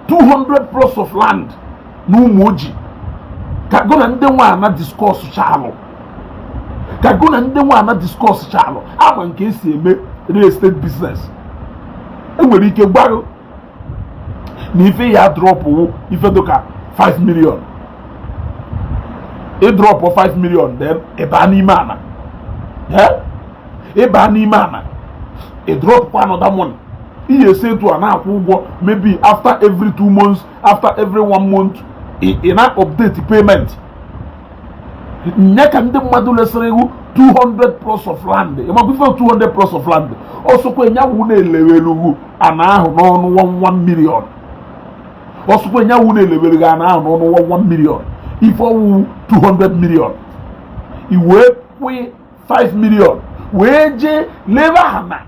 200 plots of land na Umuoji ka gụ na ndị nwe ana discuss chalụ ka gụ na ndị nwe ana discuss chalụ ama m ka e si eme real estate business e nwere ike gwa ghụ na ife ị ya-drop wụ ife dịka 5 million ị dropụ 5 million then ị ba n'ime ana ị ba n'ime ana ị dropụkwa another money ị ya-esi etu a na-akwụ ụgwọ maybe after every two months after every one month ị na-update payment nye ka ndị mmadụ lesịrị ghụ 200 plots of land ịmakwụfe 200 plots of land ọ sọkwa nya wụ na e lewere ghụ ana ahụ n'ọnụ 11 million ọ sọkwa nya wụ na e lewere gị ana ahụ n'ọnụ 11 million ife ọ wụ wụ 200 million i wee kwụọ 5 million wee jee lebe ana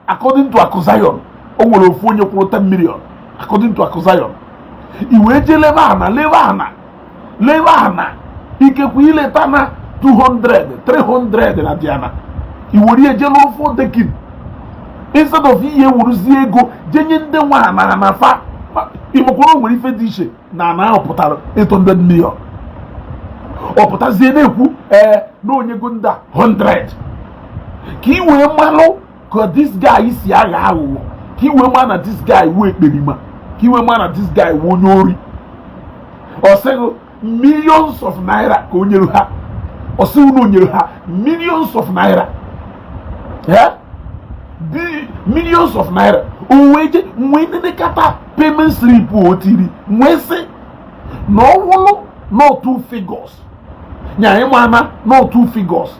according to Akụ Zion o nwere ofu onye kwụrụ 10 million according to Akụ Zion i wee jee lebe ana lebe ana lebe ana ikekwe i leta ana 200 300 na diana i were ihe jee n'ofu decking instead of ị ya-ewuruzie ego je nye ndị nwe ana ana fa ị makwa na o nwere ife dị iche na ana ahụ pụtara 800 million ọ pụtazie na-ekwu ee na o nyego ndị a 100 ka ị wee malụ ka this guy si aghọ aghụghọ ka ị wee ma na this guy wụ ekperima ka ị wee ma na this guy wụ onye ori ọ sị ghị millions of naira ka o nyere ha ọ sị ghị na o nyere ha millions of naira ee millions of naira o wee je nwee nenekata payment slip o tiri wee sị na ọ wụrụ na ọ two figures nya ị ma na ọ two figures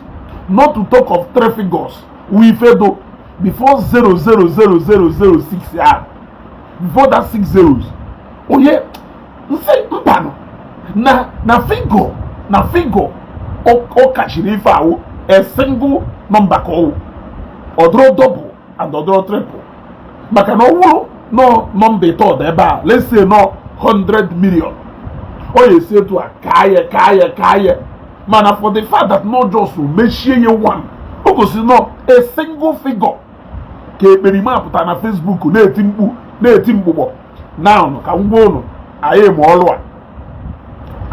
not to talk of three figures wụ ife dụ before zero zero zero zero zero six ah before that six zeros onye nsị mbanụ na na figure na figure ọ kachiri ife a wụ a single number ka ọ wụ ọ dụrọ double ọ dụrọ triple maka na ọ wụrụ na ọ nọmba ịtọ dị ebe a let's say na ọ 100 million ọ ya-esi etu a kaa ya kaa ya kaa ya mana for the fact that na ọ just mechie ya one o gosiri na ọ a single figure ka ekperima pụtara na Facebook na-eti mkpu na-eti mgbụgbọ na ka m gwa ụnụ anyị ma ọlụ a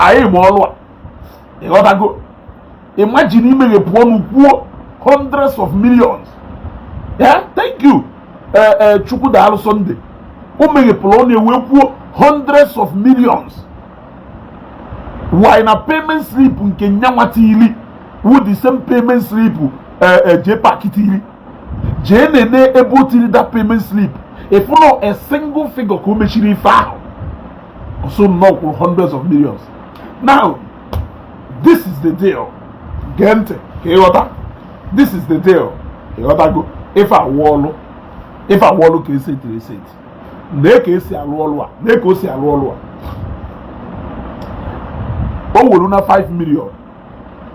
anyị ma ọlụ a ị ghọtago imagine imeghepụ ọnụ kwuo hundreds of millions yeah thank you eh, eh, chukwu daalụ sọnde o meghepụrụ ọnụ ewee kwuo hundreds of millions while na payment slip nke nyanwa tili wu the same payment slip eh, jee pakị tili jee nenee ebe o tiri that payment slip ị fụ na ọ a single figure ka o mechiri ife ahụ ọ sị na ọ kwụrụ hundreds of millions now this is the deal gee ntị ka ị ghọta this is the deal ịghọtago ife a wụ ọlụ ife a wụ ọlụ ka esi tiri esi eti lee ka esi alụ ọlụ a lee ka o si alụ ọlụ a o wuru na 5 million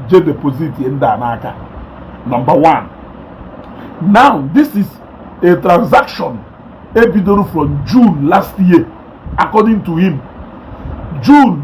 je deposit ndị a n'aka number one now this is a transaction e bidoro from June last year according to him June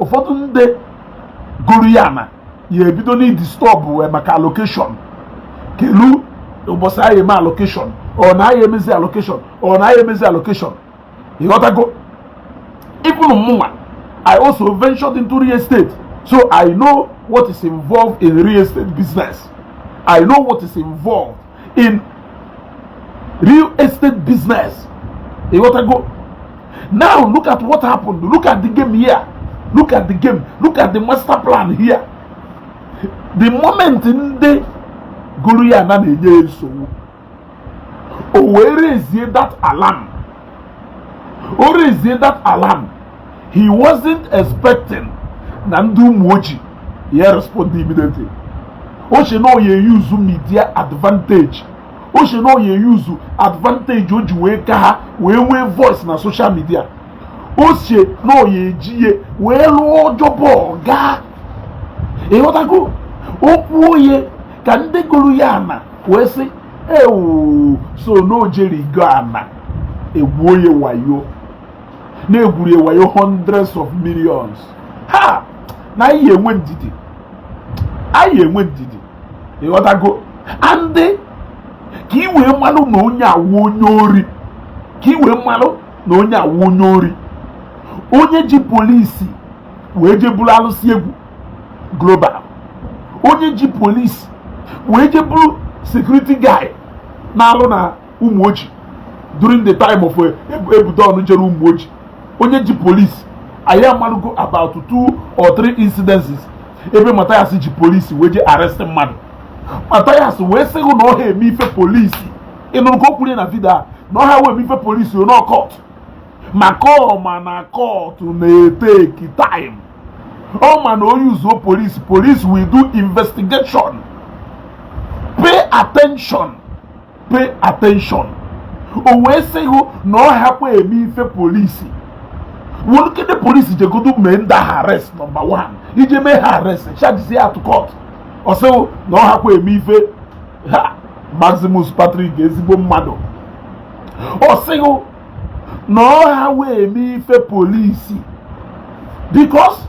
ụfọdụ ndị goru ya ana ya ebido n'idisturb eh, maka allocation kelu ụbọchị anyị eme allocation ọ na anyị emezi allocation ọ na anyị emezi allocation ịghọtago even mụnwa I also ventured into real estate so I know what is involved in real estate business I know what is involved in real estate business ịghọtago now look at what happened look at the game here look at the game look at the master plan here the moment ndị goru ya ana na-enye nsogbu o wee raisie that alarm o raisie that alarm he wasn't expecting na ndị Ụmụoji ya respond immediately o che na o ye-use media advantage o che na o ye-use advantage o ji wee ka ha wee nwee voice na social media o che na o ye-eji ya wee lụọ job ọ gaa ịghọtago o kwuo ye ka ndị goru ya ana wee sị ewu so na o jerigo ana e gwuo ye wayo na e gwuru ye wayo hundreds of millions ha na anyị enwe ndidi anyị enwe ndidi ịghọtago and ka ị wee marụ na onye a wụ onye ori ka ị wee marụ na onye a wụ onye ori onye ji polisi wee je buru alụsị egwu global onye ji polisi wee je buru security guy na-alụ na Ụmụoji during the time of eh, ebudo ọnụ jere Ụmụoji onye ji polisi anyị amalugo about two or three incidences ebe Mathias ji polisi wee je arrest mmadụ Mathias wee sị hụ na ọ ha eme ife polisi ị nụrụ ka o kwuru na vidio a na ọ ha wee eme ife polisi ọ na kọt maka ọ ma na kọtụ na-eteki time ọ ma na onye uzuo polisi polisi will do investigation pay attention pay attention o wee sị hụ na ọ hakwa eme ife polisi wụlụkede polisi jegodo mee ndị ha arrest nọmba 1 ije mee ha arrest chajizie ha to kọt ọ sị ghị na ọ hakwa eme ife ha Maximus Patrick ezigbo mmadụ ọ sị ghị na ọ ha wee eme ife polisi because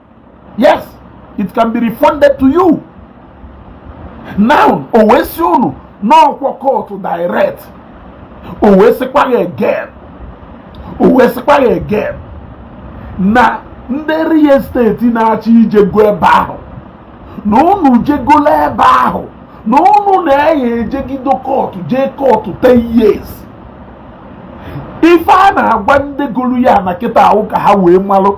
yes it can be refunded to you now o wee sị unu na ọ kwa kootu direct o wee sịkwa gị again o wee sịkwa gị again na ndị real estate na-achọ ijego ebe ahụ na unu jegola ebe ahụ na unu na-aya ejegido kootu jee kootu 10 years ife a na-agwa ndị golu ya ana kịta a wụ ka ha wee malụ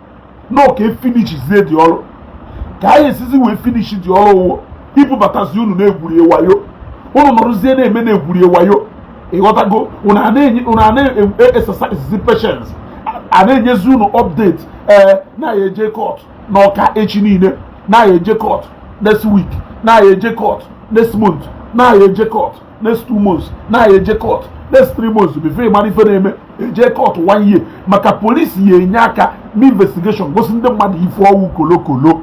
na ọ ka e finishizie the ọrụ ka anyị esizi wee finishi the ọrụ ọ wụ ibubatazi unu n'egwuri wayo unu nọrụzie na-eme na-egwuri wayo ị ghọtago unu a na-exercise patience a na-enyezi unu update ee na-aya eje kọt n'Ọka echi niile na-aya eje kọt next week na-aya eje kọt next month na-aya eje kọt next two months na-aya eje court next three months before ị mara ife na-eme e jee court one year maka polisi ya enye aka mee investigation gosi ndị mmadụ ife ọ wụ kolokolo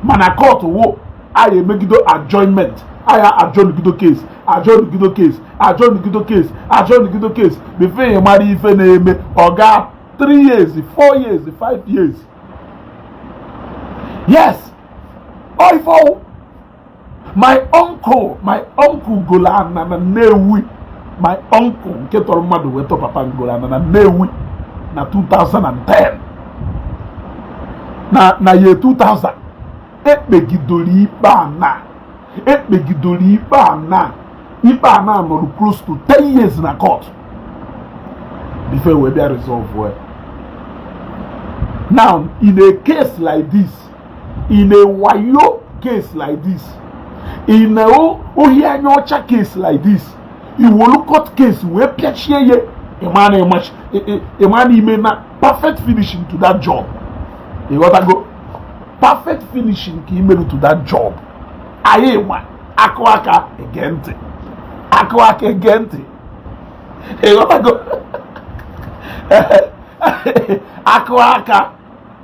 mana court wụ aya emegido adjournment aya adjournigido case adjournigido case adjournigido case adjournigido case before ị mara ife na-eme ọ gaa three years four years five years yes ọ ife ọ wụ my uncle my uncle golo ana na Nnewi my uncle nke tọrọ mmadụ wee tọ papa m golo ana na Nnewi na 2010 na na year 2000 e kpegidoro ikpe ana e kpegidoro ikpe ana ikpe ana a nọrụ close to 10 years na court before we bịa resolve well now in a case like this in a wayo case like this in a ohi anya ọcha case like this i wolu court case wee pịachie ya ịma na ịmachi ịma na i mena perfect finishing to that job ịghọtago perfect finishing ka i meru to that job anyị ma akụ aka ege ntị akụ aka ege ntị ịghọtago akụ aka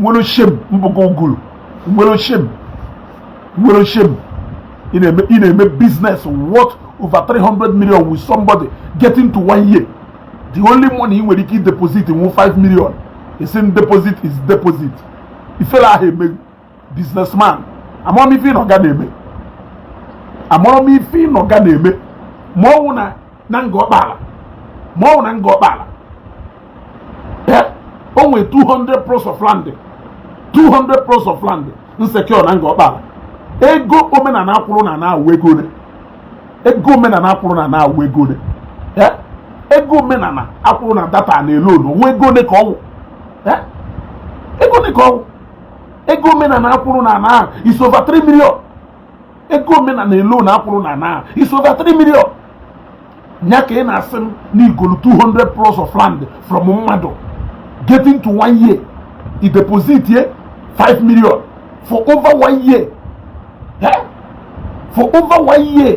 what a shame mbụkọ guru what a shame what a shame ị na-eme business worth over 300 million with somebody getting to one year the only money ị nwere ike deposit wụ 5 million ị sị deposit is deposit ifele aha eme gị businessman amarọ m ife ị nọ nga na-eme amarọ m ife ị nọ nga na-eme ma ọ wụ na na Ngor Okpala ma ọ wụ na Ngor Okpala o nwere 200 plots of land 200 plots of land m secure na Ngor Okpala ego omenana a kwụrụ na ana wụ ego one ego omenana a kwụrụ na ana wụ ego one ego omenana a kwụrụ na that ana alone ọ wụ ego one ka ọ wụ ego one ka ọ wụ ego omenana a kwụrụ na ana ahụ is over 3 million ego omenana alone a kwụrụ na ana ahụ is over 3 million nya ka ị na-asị m na i golu 200 plots of land from mmadụ getting to one year i deposit ye 5 million for over one year eh? for over one year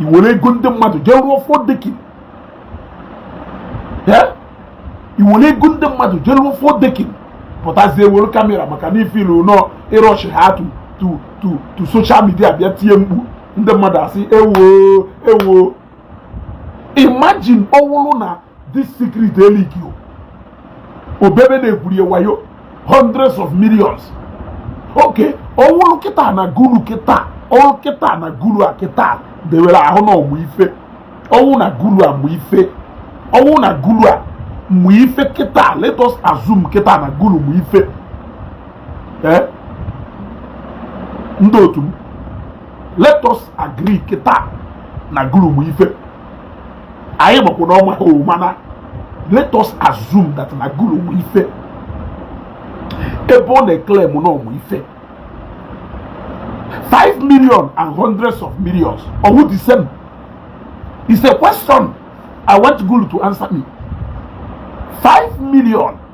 i were ego ndị mmadụ jee rụọ four decking i were ego ndị mmadụ jee rụọ four decking pụtazie wolu camera maka na ị feel na ị rush ha to to to to social media bịa tie mkpu ndị mmadụ asị ewo ewo imagine ọ wụrụ na this secret e leak obebe na-ekwuri ya wayo hundreds of millions okay ọ wụrụ kịta na gulu kịta ọrụ kịta na gulu a kịta dewere ahụ na ọ mụ ife ọ wụ na gulu a mụ ife ọ wụ na gulu a mụ ife kịta let us assume kịta na gulu mụ ife eh? ndị otu m let us agree kịta na gulu mụ ife anyị makwa na o nwehọ mana let us assume that na guru nwe ife ebe ọ na-claim na ọ mụ ife 5 million and hundreds of millions ọ wụ the same is a question i want guru to answer me 5 million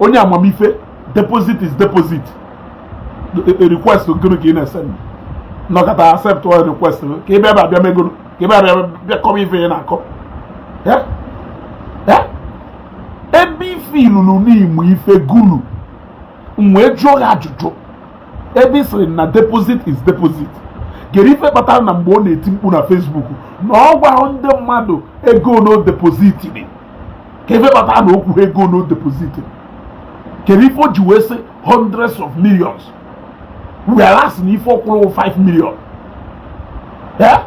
onye amamife deposit is deposit e, e, request gịnị ka ị na-ese nọkọta accept all request ka ebe ebe abịa megoro ka ebe abịa bịa kọwa ife ị na-akọ ebe ife ilulu n'igbo ife gulu m wee jụọ gị ajụjụ ebe ị sịrị na deposit is deposit kedu ife kpatara na mgbe ọ na-eti mkpu na Facebook na ọ gwahọ ndị mmadụ ego one o depozitiri kedu ife kpata na o kwuhọ ego one o depozitiri kedu ife o ji wee sị hundreds of millions whereas na ife ọ kwụrụ wụ 5 million eh?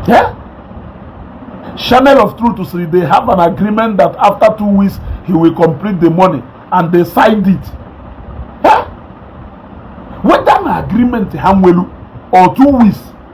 Eh? Channel of Truth say they have an agreement that after two weeks he will complete the money and they signed it. Eh? Whether na agreement ha nwelu or two weeks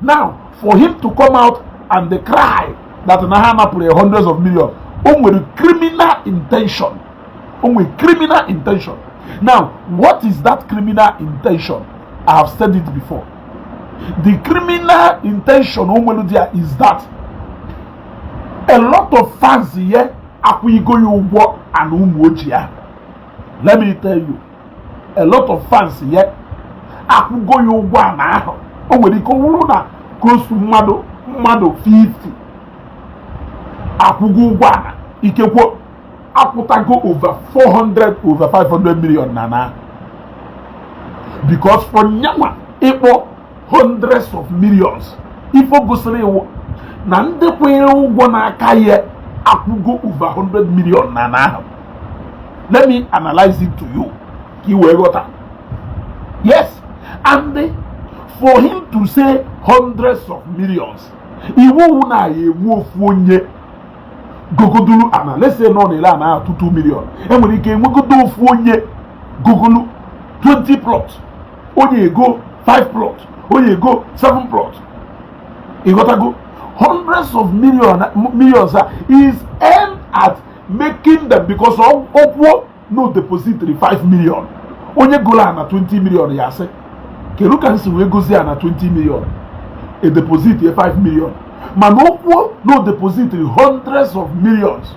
now for him to come out and dey cry that na ha napụrụ ya hundreds of millions o nwere criminal intention o nwere criminal intention now what is that criminal intention i have said it before the criminal intention o nwere there is that a lot of fans ya akwụnyego ya ụgwọ ana Umuoji a let me tell you a lot of fans ya akwụgo ya ụgwọ ana ahụ o nwere ike ọ bụrụ na close to mmadụ mmadụ 50 akwụgo ụgwọ ana ikekwe akwụtago over 400 over 500 million n'ana ahụ because for nyanwa ịkpọ hundreds of millions ife o gosiri wụ na ndị kwụnyere ụgwọ n'aka ya akwụgo over 100 million n'ana ahụ let me analyze it to you ka ị wee ghọta yes and for him to say hundreds of millions wụ na a ya-enwe ofu onye gogodulu ana let's say na ọ na-ele ana ahụ 2 million e nwere ike enwegodo ofu onye gogolu 20 plots onye egoo 5 plot onye egoo 7 plot ịghọtago hundreds of millions a is aimed at making them because o kwuo na o depozitiri 5 million onye goro ana 20 million ya asị kedu ka m si wee gozie ana 20 million i depozitie 5 million mana o kwuo na o depozitiri hundreds of millions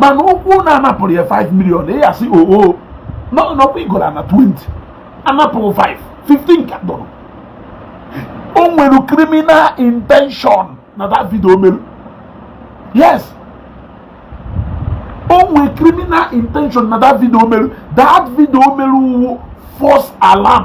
mana o kwuo na a napụrụ ya 5 million ị ya-asị oo n'ọkwa i goro ana 20 a napụrụ 5 15 ka dọrọ o nwere criminal intention na that video o mere yes o nwere criminal intention na that video o mere that video o mere wụ false alarm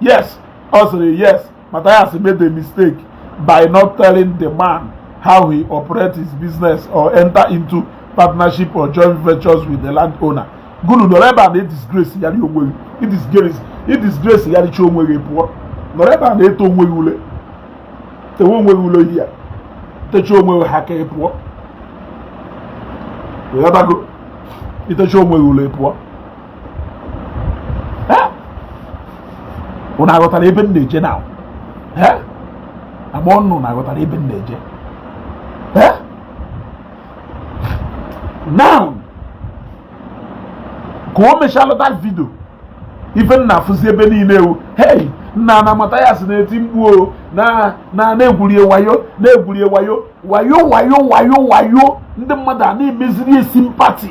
yes ọ sịrị yes Matthias made a mistake by not telling the man how he operates his business or enter into partnership or joint ventures with the landowner gụnụ nọrọ ebe a na-edisgrace ya dị onwe gị idisgrace ya dịcha onwe gị pụọ nọrọ ebe a na-ete onwe gị ule tewe onwe gị ule ya techa onwe gị ha ka ị pụọ ịghọtago itecha onwe gị ule pụọ ụnụ aghọtara ebe m na-eje na agba ọnụ na aghọtara ebe m na-eje now ka o mechaa lọta vidio ife m na-afụzi ebe niile ewu hei nna na amata ya si na-eti mkpu o na na-egwurie wayo na-egwurie wayo wayo wayo wayo wayo ndị mmadụ a na-emeziri sympathy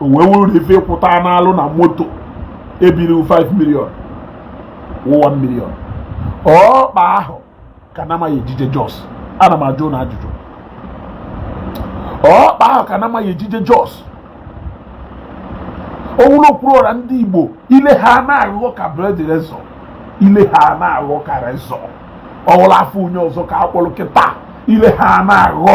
o wee wuru na ife ịkwụta n'alụ na moto ebiri 5 million 1 million ọkpa ahụ ka nama ya-eji eje Jos ana m ajụ ụnụ ajụjụ ọkpa ahụ ka nama ya-eji eje Jos ọwụla o kwuru ọra ndị igbo ile ha na-aghọ ka blade razor ile ha na-aghọ ka razor ọwụla afa onye ọzọ ka akpọrọ kịta ile ha na-aghọ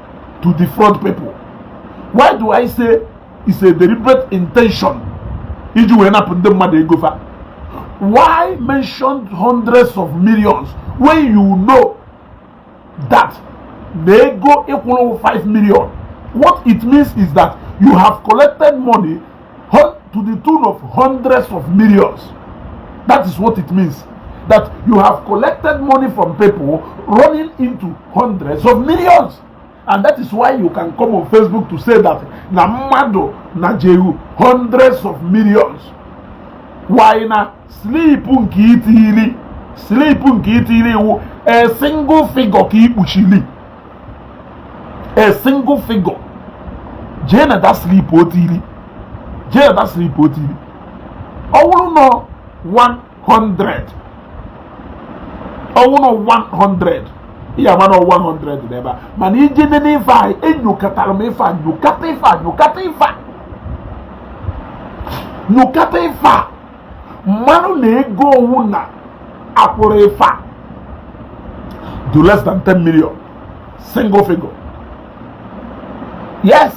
to defraud people why do i say it's a deliberate intention iji wee napụ ndị mmadụ ego fa why mention hundreds of millions when you know that na ego ị kwụrụ 5 million what it means is that you have collected money to the tune of hundreds of millions that is what it means that you have collected money from people running into hundreds of millions and that is why you can come on Facebook to say that na mmadụ na jehu hundreds of millions why na sleep nke itili sleep nke itili iwu a single figure ka ikpuchili a single figure jee na that slip o tiri jee na that slip o tiri ọ wụrụ nọ 100 ọ wụrụ nọ 100 ị ya-ama na 100 dị ebe a mana ị jee nene ife a enyokatara m ife a nyokata ife a nyokata ife a nyokata ife a marụ na ego ọwụna akwụrụ ife a dị less than 10 million single figure yes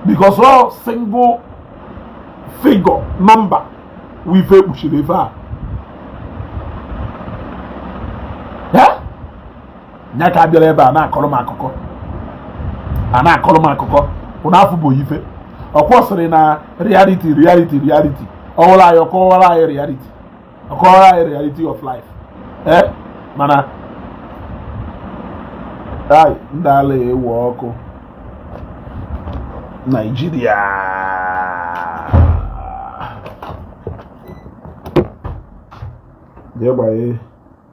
because ọ single figure number wụ ife ekpuchiri ife a nya ka abịara ebe a na-akọrọ m akụkọ a na-akọrọ m akụkọ ụnụ afụgo ife ọ kwọ sịrị na reality reality reality ọwụla anyị ọkọwara anyị reality ọkọwara anyị reality of life ee eh, mana ai ndị ala ewe ọkụ Naijiria jee gbanye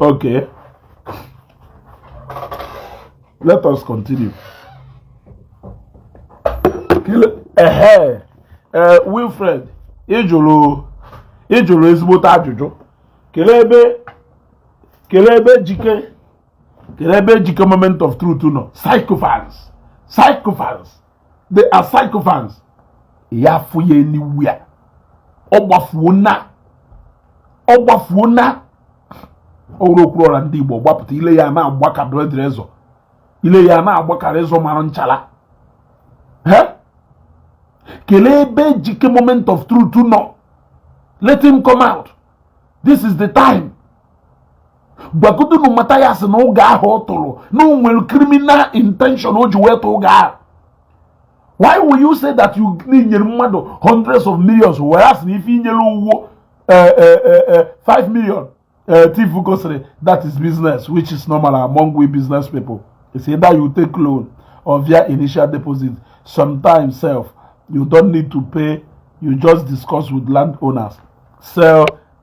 Okay. Let us continue. Ehe, ee Wilfred, ị jụrụ ị jụrụ ezigbote ajụjụ. Kelee ebe kelee ebe Ejike kelee ebe Ejike moment of truth nọ. Sycophants, sycophants. the sycophants ya afụ ya anywhere ọ gbafuo na ọ gbafuo na ọ wụrụ okwu ọra ndị Igbo gbapụta ile ya na-agba ka blade razor ile ya na-agba ka razor mara nchala kelee ebe Ejike moment of truth nọ let him come out this is the time gwagodunu Mathias na ụgha ahụ ọ tụrụ na o nwere criminal intention o ji wee tụ ụgha ahụ why will you say that i nyere mmadụ hundreds of millions were sị na ife i nyere uwo 5 million uh, Chief Ugo sịrị, that is business, which is normal among we business people. It's either you take loan or pay initial deposit. Sometimes sef, you don't need to pay. You just discuss with landowners. Sell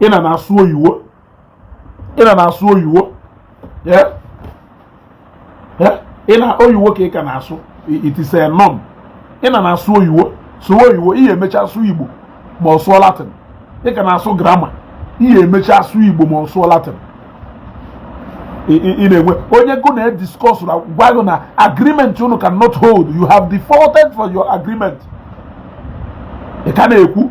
ị na na-asụ oyiwo ị na na-asụ oyiwo ị na oyiwo ka ị ka na-asụ it is a norm ị na na-asụ oyiwo sụwa oyiwo ị ya-emecha asụ Igbo ma ọ sụọ Latin ị ka na-asụ grammar ị ya-emecha asụ Igbo ma ọ sụọ Latin ị na-enwe onye gụ na discuss na gwa gụ na agreement unu cannot hold you have defaulted for your agreement ị ka na-ekwu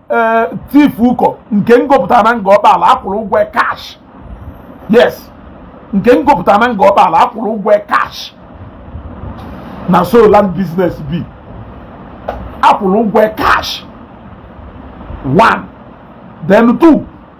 ee Chief Ugo nke m gopụta na Ngor Okpala a kwụrụ ụgwọ cash yes nke m gopụta na Ngor Okpala a kwụrụ ụgwọ cash na so land business be a kwụrụ ụgwọ cash one then two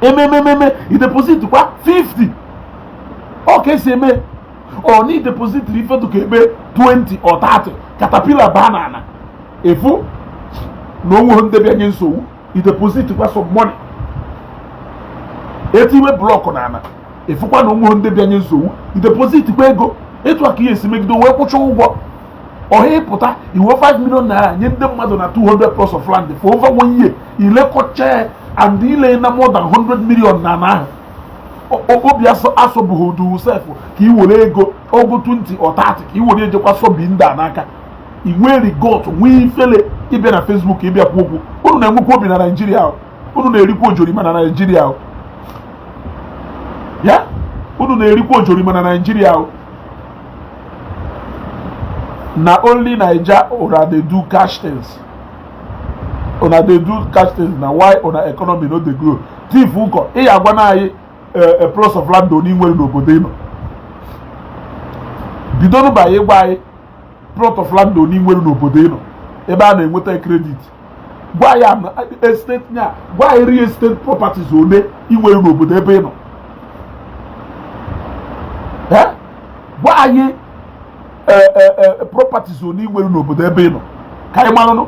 e mee mee mee mee i deposit kwa 50 ọ ka e si eme ọ na i depositiri ife dụ ka ebe 20 or 30 caterpillar baa na ana a fụ na o nwehọ nde bịa nye nsogbu i deposit kwa some money e tiwe block na ana a fụkwa na o nwehọ nde bịa nye nsogbu i deposit kwa ego etu a ka ị ya-esi megide wee kwụcha ụgwọ ọhịa ị pụta i we 5 million naira nye ndị mmadụ na 200 plots of land for over one year i lekọcha ya and i le na more than 100 million naira obi asọbụghị udu sef ka i were ego ogo 20 or 30 ka i were ejekwa sobi ndị a n'aka i nwere gut nwee ifele ị bịa na Facebook ịbịa kwu okwu unu na-enwekwa obi na Naịjirịa unu na-erikwa ojorima na Naịjirịa ya unu na-erikwa ojorima na Naịjirịa na only naija una dey do cash things una dey do cash things na why una economy no dey grow thief nkọ bịa gwanụ anyị a eh, eh, plots of land ole ị nwere n'obodo ị nọ bidonụ bịa gwa anyị plots of land ole ị nwere n'obodo ị nọ ebe a na-enweta credit gwa anyị real estate nya gwa anyị real estate properties ole ị nwere n'obodo ebe ị nọ gwa anyị e, e, e, properties ole ị nwere n'obodo ebe ị nọ ka anyị maranụ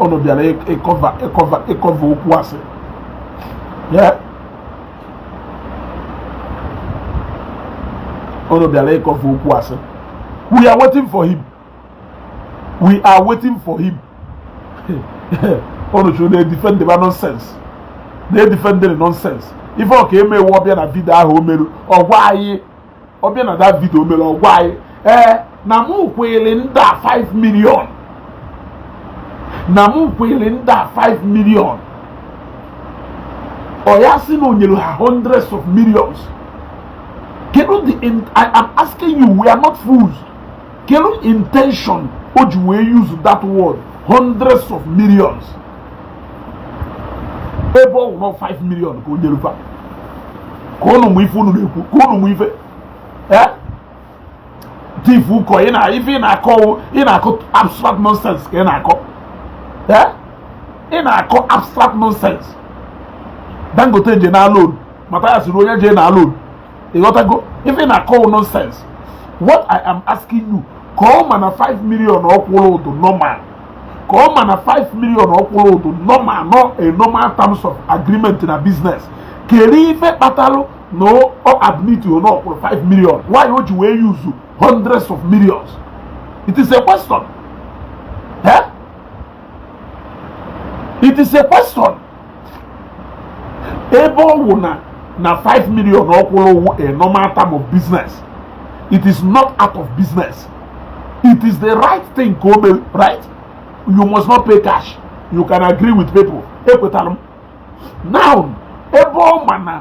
unu bịara ịkọva ịkọva ịkọva okwu asị unu bịara ịkọva okwu asị we are waiting for him we are waiting for him unu chụrụ na-edifend ba nonsense na-edifendịrị nonsense ife ọ ka-eme wụ ọ bịa na video ahụ o meru ọ gwa anyị ọ bịa na that video o mere ọ gwa anyị ee na mụ kwụrụ ndị a 5 million na mụ kwụrụ ndị a 5 million ọ ya sị na o nyere ha hundreds of millions kedu the i am asking you we are not fools kedu intention o ji wee use that word hundreds of millions ebe ọ wụrụ 5 million ka o nyere fa kọọnụ m ife unu na-ekwu kọọnụ m ife eh? thief ụkọ ị na ife ị na-akọ ị na-akọ abstract nonsense ka ị na-akọ eh? ị na-akọ abstract nonsense dangote je naa loan mata ya siri onye je naa loan ịghọtago ife ị na-akọ nonsense what i am asking you ka ọ ma na 5 million ọ kwụrụ dị normal ka ọ ma na 5 million ọ kwụrụ dị normal no a normal terms of agreement na business kedu ife kpatalụ na ọ admit na ọ kwụrụ 5 million why o ji wee use hundreds of millions it is a question eh? it is a question ebe ọ wụ na na 5 million ọ kwụrụ wụ a normal term of business it is not out of business it is the right thing ka o mere right you must not pay cash you can agree with people ekwetara m now ebe ọ ma na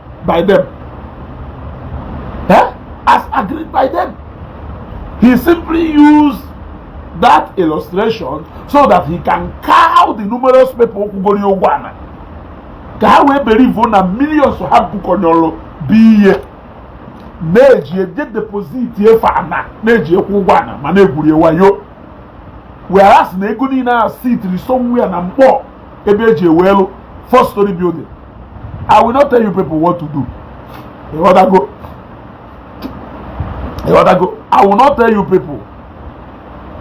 by them. Eh? As agreed by them. He simply used that illustration so that he can cow the numerous people kwụgoro ụgwọ ana. Ka ha wee believe na millions ha bukọnyere bụ ihe na-eji eje deposit ife ana na-eji akwụ ụgwọ ana ma na-egwuri wayo whereas na ego niile a sitiri somewhere na mkpọ ebe e ji welu four story building i will not tell you people what to do ịghọtago ịghọtago i will not tell you people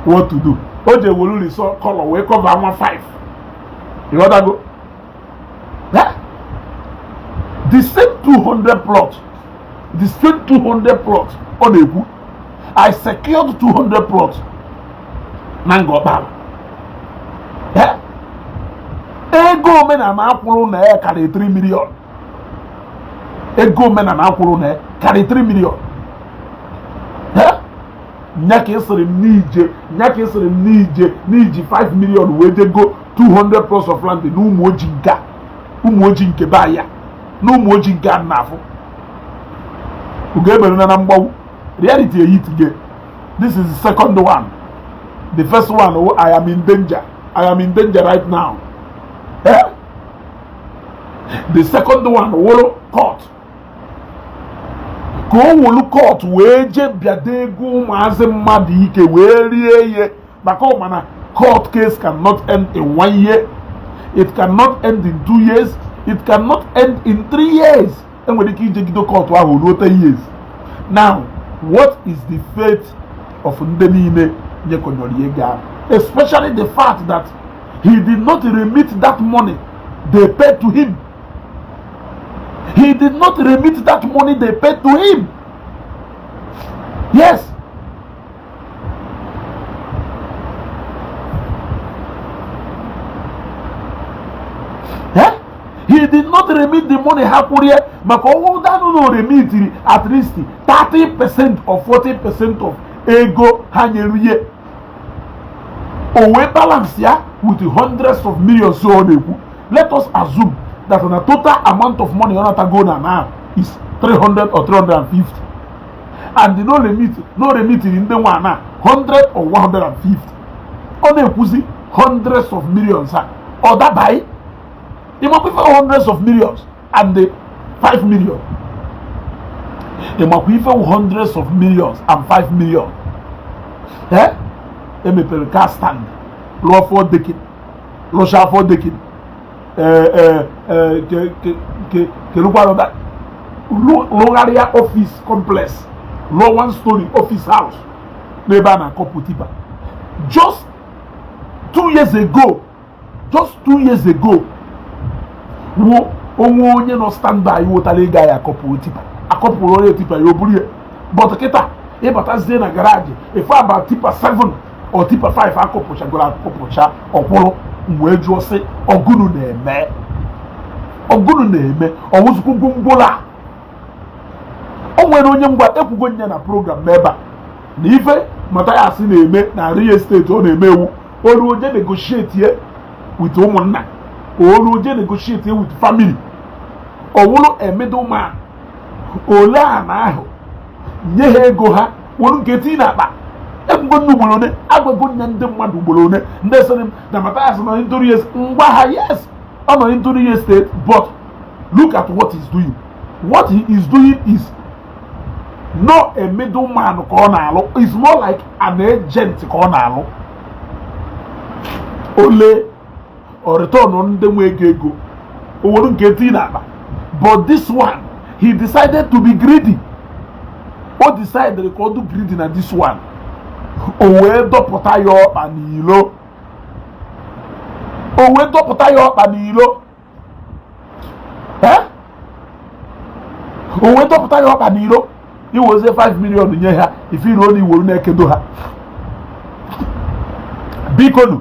what to do o ji welu risọ kọlọ wee cover nwa 5 ịghọtago the same 200 plot the same 200 plot ọ na-ekwu I secured 200 plots na Ngor Okpala eh? ego omenala a kwụrụ na ya karịrị 3 million ego omenala a kwụrụ na ya karịrị 3 million eh? nya ka ị sịrị m nya ka ị sịrị m n'iji 5 million wee je goo 200 plots of land na Ụmụoji nke Ụmụoji nke be ya na Ụmụoji nke a na-afụ ugo emere na na mgbe ahụ reality eyi today this is the second one the first one oh, i am in danger i am in danger right now eh? the second one wụrụ oh, court ka o welu court wee jee bịado ego ụmụazị mmadụ ike wee rie ihe maka ọ mana court case cannot end in one year it cannot end in two years it cannot end in three years enwere ike ijegide kọtụ ahụ ruo ten years now what is the fate of ndị niile nyekọnyọrọ ihe gaa especially the fact that he did not remit that money they paid to him he did not remit that money they paid to him yes eh? he did not remit the money ha kwụrụ ya maka ọ wụ danụ na o remitiri at least 30 percent or 40 percent of ego ha nyere ya o wee balance ya with hundreds of millions so ọ na-ekwu let us assume that the total amount of money ọ natago na now is 300 or 350 and na o remit na o remitiri ndị nwe ana 100 or 150 ọ na-ekwuzi hundreds of millions a ọ dabaghị ị makwa ife hundreds of millions and the 5 million ị makwa ife hundreds of millions and 5 million ee e mepere car stand lụọ four decking lụcha four decking kerukwarụta rụgharịa office complex rụọ one story office house n'ebe a na-acouple tipper just two years ago just two years ago o nwe onye nọ standby wetara ị ga ya acouple tipper a couplerụ onye tipper ya o buru ya but kịta ị batazie na garage ife a bụ tipper 7 or tipper 5 a couplechagoro acouplecha ọ kwụrụ m wee jụọ sị ọ gụnụ na-eme ọ gụnụ na-eme ọ wụzịkwa gwongworo a o nwere onye nwa ekwugo ya na program n'ebe a na ife Mathias na-eme na real estate ọ na-eme wụ o luo jee negotiate ye with ụmụnna o luo jee negotiate ye with family ọ wụrụ a middle man o lee ana ahụ nye ha ego ha were nke tii n'akpa ekwugo nne ugboro one agwago nne ndị mmadụ ugboro one ndị sịrị m na Mathias nọ into real estate m gwa ha yes ọ nọ into real estate but look at what he's doing what he is doing is not a middle man ka ọ na-alụ is more like an agent ka ọ na-alụ o lee o return ndị nwe ego ego o were nke tii n'akpa but this one he decided to be greedy o decided ka ọ dị greedy na this one o wee dọpụta ya ọkpa n'ilo o wee dọpụta ya ọkpa n'ilo eh? o wee dọpụta ya ọkpa n'ilo i wezie 5 million nye ha ife iru olu i welu na-ekedo ha bikonu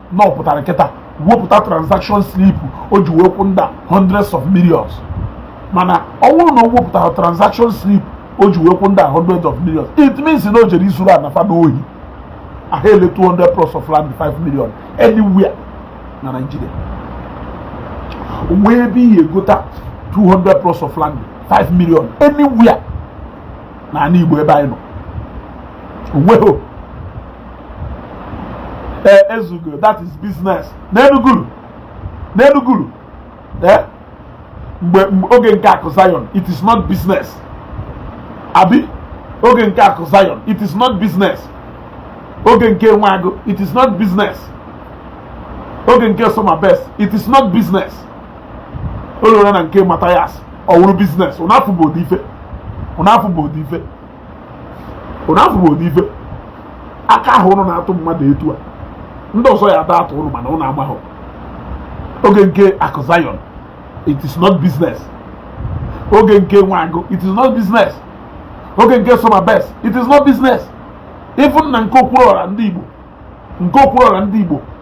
na ọ pụtara kịta wepụta transaction slip o ji wee kwụ ndị a hundreds of millions mana ọ bụrụ na o wepụtara transaction slip o ji wee kwụ ndị a hundreds of millions it means na o jere izuru ana fa n'ohi a ha-ele 200 plots of land 5 million anywhere na Nigeria nwee ebe i he-egota 200 plots of land 5 million anywhere n'ana Igbo ebe anyị nọ o nweghị ee ezugo that is business nelugodu nelugodu ee mgbe oge nke akụ Zion it is not business abi oge nke akụ Zion it is not business oge nke Nwa Agụ it is not business oge nke Soma Best it is not business o luola na nke Mathias ọ wụrụ business ụnụ afụgo ụdị ife ụnụ afụgo ụdị ife ụnụ afụgo ụdị ife aka ahụ ụnụ na-atụ mmadụ etu a ndị ọzọ ya ada atụ ụnụ mana ụnụ amaghị oge nke akụ zion it is not business oge nke Nwa Agụ it is not business oge nke Soma Best it is not business even na nke Okwuru Ọra ndị Igbo nke Okwuru Ọra ndị Igbo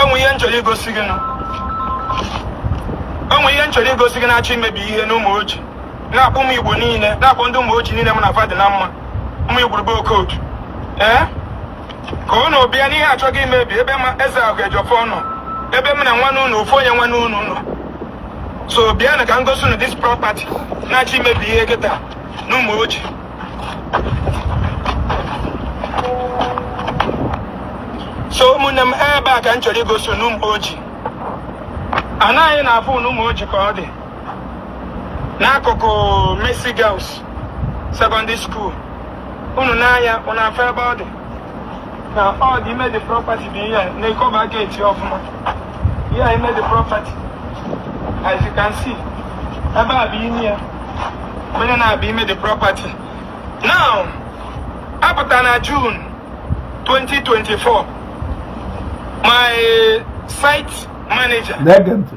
e nwee ihe m chọrọ igosi gị e nwee ihe m chọrọ igosi gị na-achọ imebi ihe n'Ụmụoji na-akpọ ụmụ igbo niile na-akpọ ndị Ụmụoji niile m na fa dị na mma ụmụ igwurube Okodu ee ka unu bịa n'ihe achọgo imebi ebe m na eze ahụ Ejiọfọ nọ ebe m na nwanne unu ofu onye nwanne unu nọ so bịanụ ka m gosi unu this property na-achọ imebi ihe kịta n'Ụmụoji so ụmụnne m ebe a ka m chọrọ igosi unu n'Ụmụoji anyị na-afụ n'Ụmụoji ka ọ dị n'akụkụ Mercy Girls Secondary School unu nee anya unu afụ ebe ọ dị na ọ dị ime the property bụ ihe a na-ekọba geeti ọfụma ihe a ime the property as you can see ebe a bụ ime ya onye na-abụ ime the property now apụta na June 2024 my site manager na-ege ntị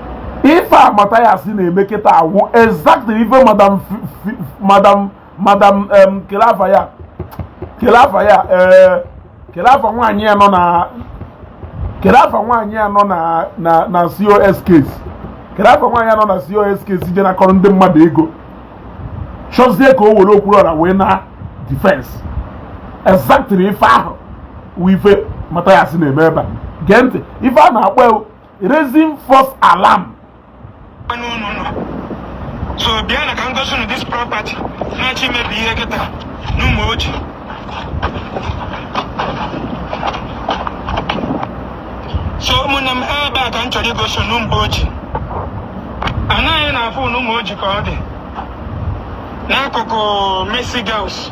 ife a Mathias na-eme kịta awụ exactly ife madam madam madam kelafa ya kelafa ya eh, kelafa nwaanyị ya nọ na kelafa nwaanyị ya nọ na na na COS case kelafa nwaanyị ya nọ na COS case je nakọrọ ndị mmadụ ego chọzie ka o were okwu ọra wee na defense exactly ife ahụ wụ ife Mathias na-eme ebe a gee ntị ife a na-akpọ raising false alarm so bịanụ ka m gosi unu this property na-achọ imebi ihe kịta n'Ụmụoji so ụmụnne m ebe a ka m chọrọ igosi unu mgbe oji anaghị na-afụ unu Ụmụoji ka ọ dị n'akụkụ Mercy Girls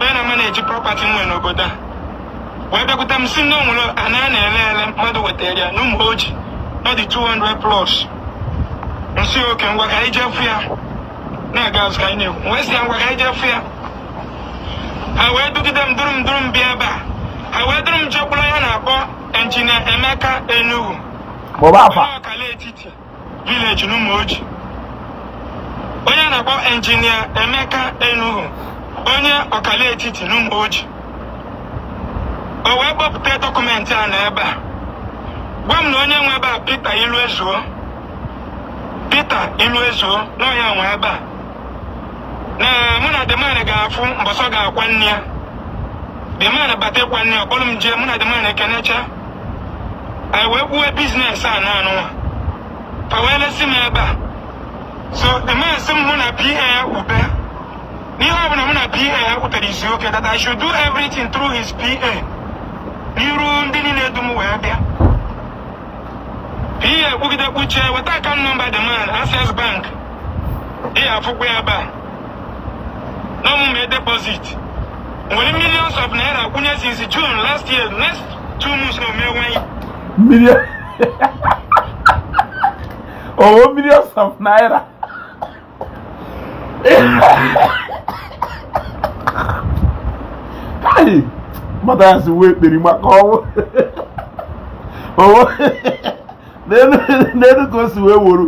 onye na-amaneji prọpati m nwere n'obodo a wee bịakwute m sị na o nwere ana a na-ele ele mmadụ wetara ya n'Ụmụoji ọ dị 200 plots m sị oke ngwa ka anyị je fụ ya na a ga-azụ ka anyị na-ekwu wee sị ya ngwa ka anyị je fụ ya ha wee dugide m duru m duru m bịa ebe a ha wee duru m jekwuru onye a na-akpọ injinia Emeka Enuhu maọbụ afa Akala Etiti vileji n'Ụmụoji onye a na-akpọ injinia Emeka Enuhu onye Akala Etiti n'Ụmụoji o wee kpọpụta dọkụmentị ana ebe a gwa m na onye nwe ebe a Peter Iluezuo Peter Iluezuo na ọ ya nwe ebe a na mụ na the man ga-afụ mbọsị ọ ga-akwa nne ya the man bata ịkwa nne ya ọ kpọrọ m jee mụ na the man ekenecha anyị wee kwuwe biznes ana nụnwa fa wee lesi m ebe a so the man sị m mụ na PA kwube na ihe ọ bụla mụ na PA kwutere is okay that i should do everything through his PA n'iru ndị niile dum wee bịa ihe ekwugide kwuchie weta akaụntụ nọmba the man access bank ị ya afụkwa ya ebe a na m mee deposit m were millions of naira kwụnye since june last year next two months na ọ mee one year m jiri kwụọ millions of naira Kai! Mmadụ ya si wee kperi maka ọnwụ. Owo n'elu ka o si wee woro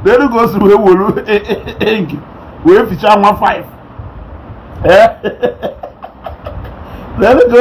n'elu ka o si wee woro engi wee fichaa nwa 5. N'elu ka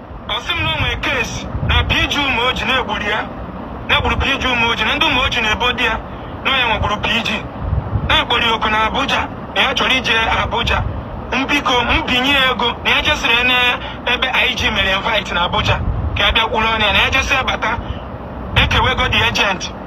ọ sị m na o nwere case na PG Ụmụoji na egburu ya na egburu PG Ụmụoji na ndị Ụmụoji na-ebo di ya na onye nwegburu PG na a kpọrọ ya oku na Abuja na ya chọrọ ije Abuja m biko m binye ya ego na ya jesịrị ya n'ebe IG mere invite na Abuja ka ya bịa kwuru ọnụ ya na ya jesịa bata e kewe ego the agent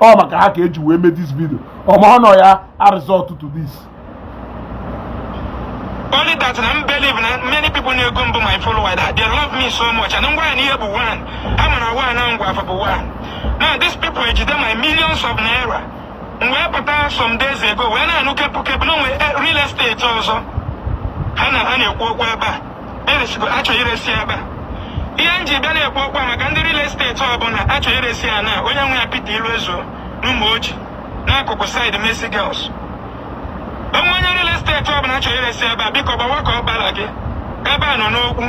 ọ maka ha ka e ji wee mee this video ọma ọ nọ ya a resort to this only that na m believe na many people na-ege m bụ my follower that they love me so much and ngwa na ihe bụ one ha mara one na ngwa afọ bụ one now these people ejide my millions of naira m wee pụta some days ago wee na-anụ kepu kepu na o nwe real estate ọzọ ha na ha na-ekwu okwu ebe a eresigo a chọ iresi ebe ihe m ji bịa na-ekwu okwu maka ndị real estate ọbụla a chọ iresi ya na onye nwe ya Peter Iluezo n'Ụmụoji n'akụkụ side Mercy Girls o nwe onye real estate ọbụla a chọ iresi ebe a biko gbawa ka ọ gbara gị ebe a nọ n'okwu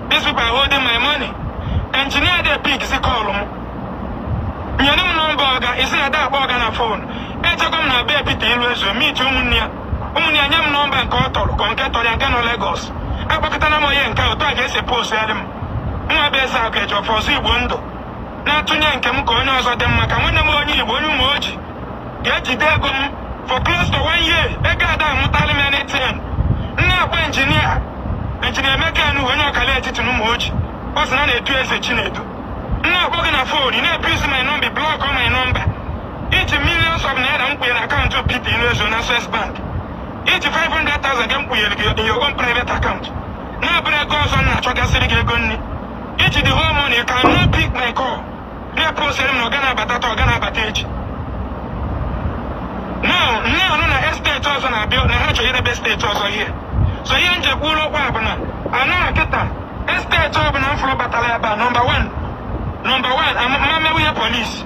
these people are holding my money engineer adị epickzi call m nyere m nọmba ọga ị sị na a da akpọ ọga na fon ejekwa m na be Peter Iluezo meet ụmụnne ya ụmụnne ya enye m nọmba nke ọ tọrọ ka nke tọrọ ya nke nọ Lagos akpọkọtana m onye nke otu a ka e si eposirị m mụ nwa bụ eze akụ eji ọfọ ọzọ igbo ndụ na-atụnye nke m ka onye ọzọ dị mma ka nwanne m onye igbo onye Ụmụoji ga-ejide ego m for close to one year ego a da amụtalụ m anything m na-akpọ engineer engineer Emeka enu onye Akala Etiti na Ụmụoji ọ sị na a na-etu Ezechinedu m na-akpọ gị na fon ị na-ebusy my number blockọ my number i ji millions of naira m kpunye na akaụntụ pp n'ezo na Access Bank i ji 500,000 gị m kpunyere gị in your own private account na-abụrọ ego ọzọ m na-achọgasịrị gị ego nri i ji the whole money cannot pick my call na-eposịrị m na ọ ga na-abata taa ọ ga na-abata echi now m na-anụ na estate ọzọ na-abịa na ha chọrọ idebe estate ọzọ ihe so ihe m ji ekwu okwu a bụ na anara kịta estate ọbụla m fụrụ batara ebe a nọmba 1 nọmba 1 amammewu ihe police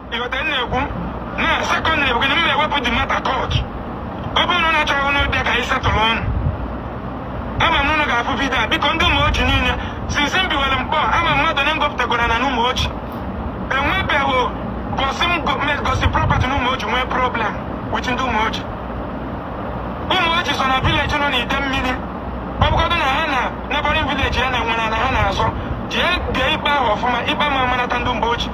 ị ghọta ihe m na-ekwu na secondly bụ gịnị m na-ewepụ the matter court ọ bụrụ na ụnụ achọghị ụnụ bịa ka anyị settle ọnụ ama m na ụnụ ga-afụ video a biko ndị Ụmụoji niile since m biwere Nkpor ama m mmadụ onye m gọpụtagwara na n'Ụmụoji enwebeghị gosi m go- me- gosi property na Ụmụoji nwee problem with ndị Ụmụoji Ụmụoji so na village nọ n'Idemili ọ bụgodị na ha na neighboring village ya na nwere ana ha na-azọ jee dee ikpe ahụ ọfụma ikpe ma manata ndị mgbe ochie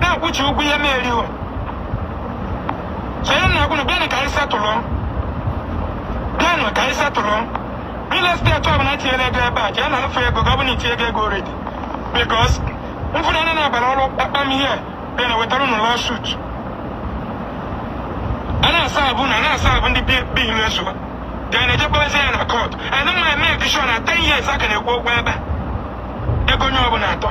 na-akwụchi ụgwọ ihe na-eri o chere na agwụnụ bịanụ ka anyị settle bịanụ ka anyị settle real estate ọbụla tinyere ego ebe a jee nafụ ego gị ọ bụla i tinye ego ego already because mfụnanya na-abara ọrụ kpakpam ihe bịa na wetara ụnụ lawsuit a na-asa abụ na na-asa abụ ndị biilu ezuwa ga na-ejekpọrezi ya na court ana mma eme additional 10 years a ka na-ekwu okwu ebe a ego onye ọbụla atọ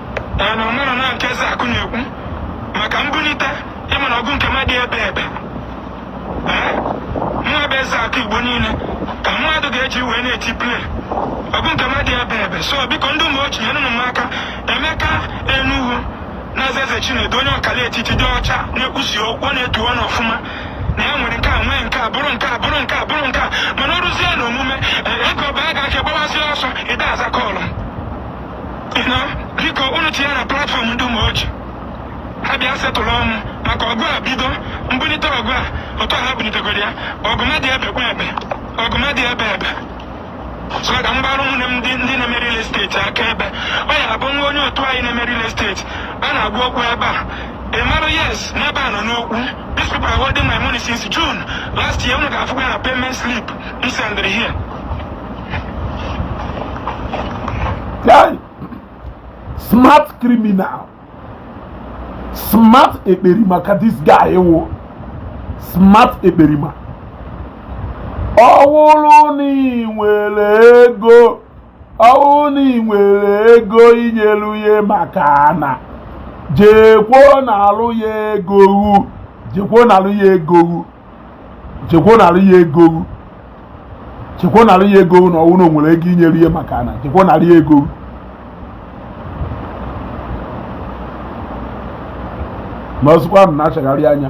ee na ị mara na nke eze akụ na-ekwu maka mbunite ị ma na ọgụ nke na-adị ebe ebe ee nwa bụ eze akụ igbo niile ka mmadụ ga-eji wee na-eti play ọgụ nke na-adị ebe ebe so biko ndị ụmụoji nyenụ m aka emeka enuhu na eze eze chinedu onye ọkala etiti dị ọcha na-ekwusi okwu ọ na-etu ọnụ ọfụma na ya nwere nke a nwee nke a bụrụ nke a bụrụ nke a bụrụ nke a mana ọ rụzie na omume ee, ego ọba a ga-aka gbawazi ọsọ ị da-aza call m na biko unu tinye na platform ndị ụmụoji ha bịa settle mụ maka ọgụ a bido m bunite ọgụ a otu ha bunitegoro ya ọgụ na-adị ebe kwa ebe ọgụ na-adị ebe ebe so ka m gbara ụmụnne m ndị ndị na-eme real estate aka ebe ọ ya bụ nwa onye otu anyị na-eme real estate a na-agwa okwu ebe a ị mara yes n'ebe a nọ n'okwu these people are holding my money since June last year unu ga-afụkwa ya na payment slip m sendịrị here smart criminal smart ekperima ka this guy wụ smart ekperima ọ wụrụ na ị nwere ego ọ wụrụ na ị nwere ego i nyelu ya maka ana jekwuo nalụ ya ego hụ jekwuo nalụ ya ego hụ jekwo narị ya ego hụ jekwo narị ya ego hụ na ọ wụ na o nwere ego i nyere ya maka ana jekwo narị ya ego hụ ma ọ sụkwa m na-achagharị anya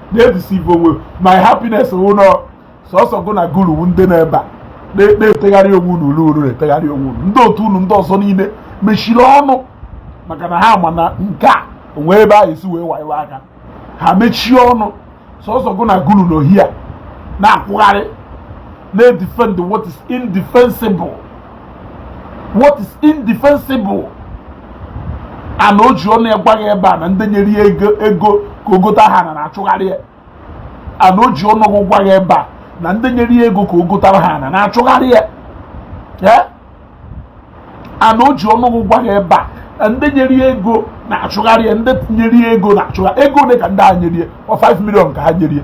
na-edeceive onwe my happiness wụ na ọ sọsọ gụ na guru wu ndị nọ ebe a na-etegharị onwe unu olu olu na-etegharị onwe unu ndị otu unu ndị ọzọ niile mechiri ọnụ maka na ha ma na nke a o nwe ebe a esi wee wayo aka ha mechie ọnụ sọsọ gụ na guru nọ here na-akwụgharị na-edefend what is indefensible what is indefensible and o ji ọnụ ya gwa gị ebe a na ndị nyere ya ego ego ka o gotara ha ana na-achụgharị ya and o ji ọnụ ya gwa gị ebe a na ndị nyere ya ego ka o gotara ha ana na-achụgharị ya and o ji ọnụ ya gwa gị ebe a ndị nyere ya ego na-achụgharị ya ndị nyere ya ego na-achụgharị ego ole ka ndị a nyere ya ọ 5 million ka ha nyere ya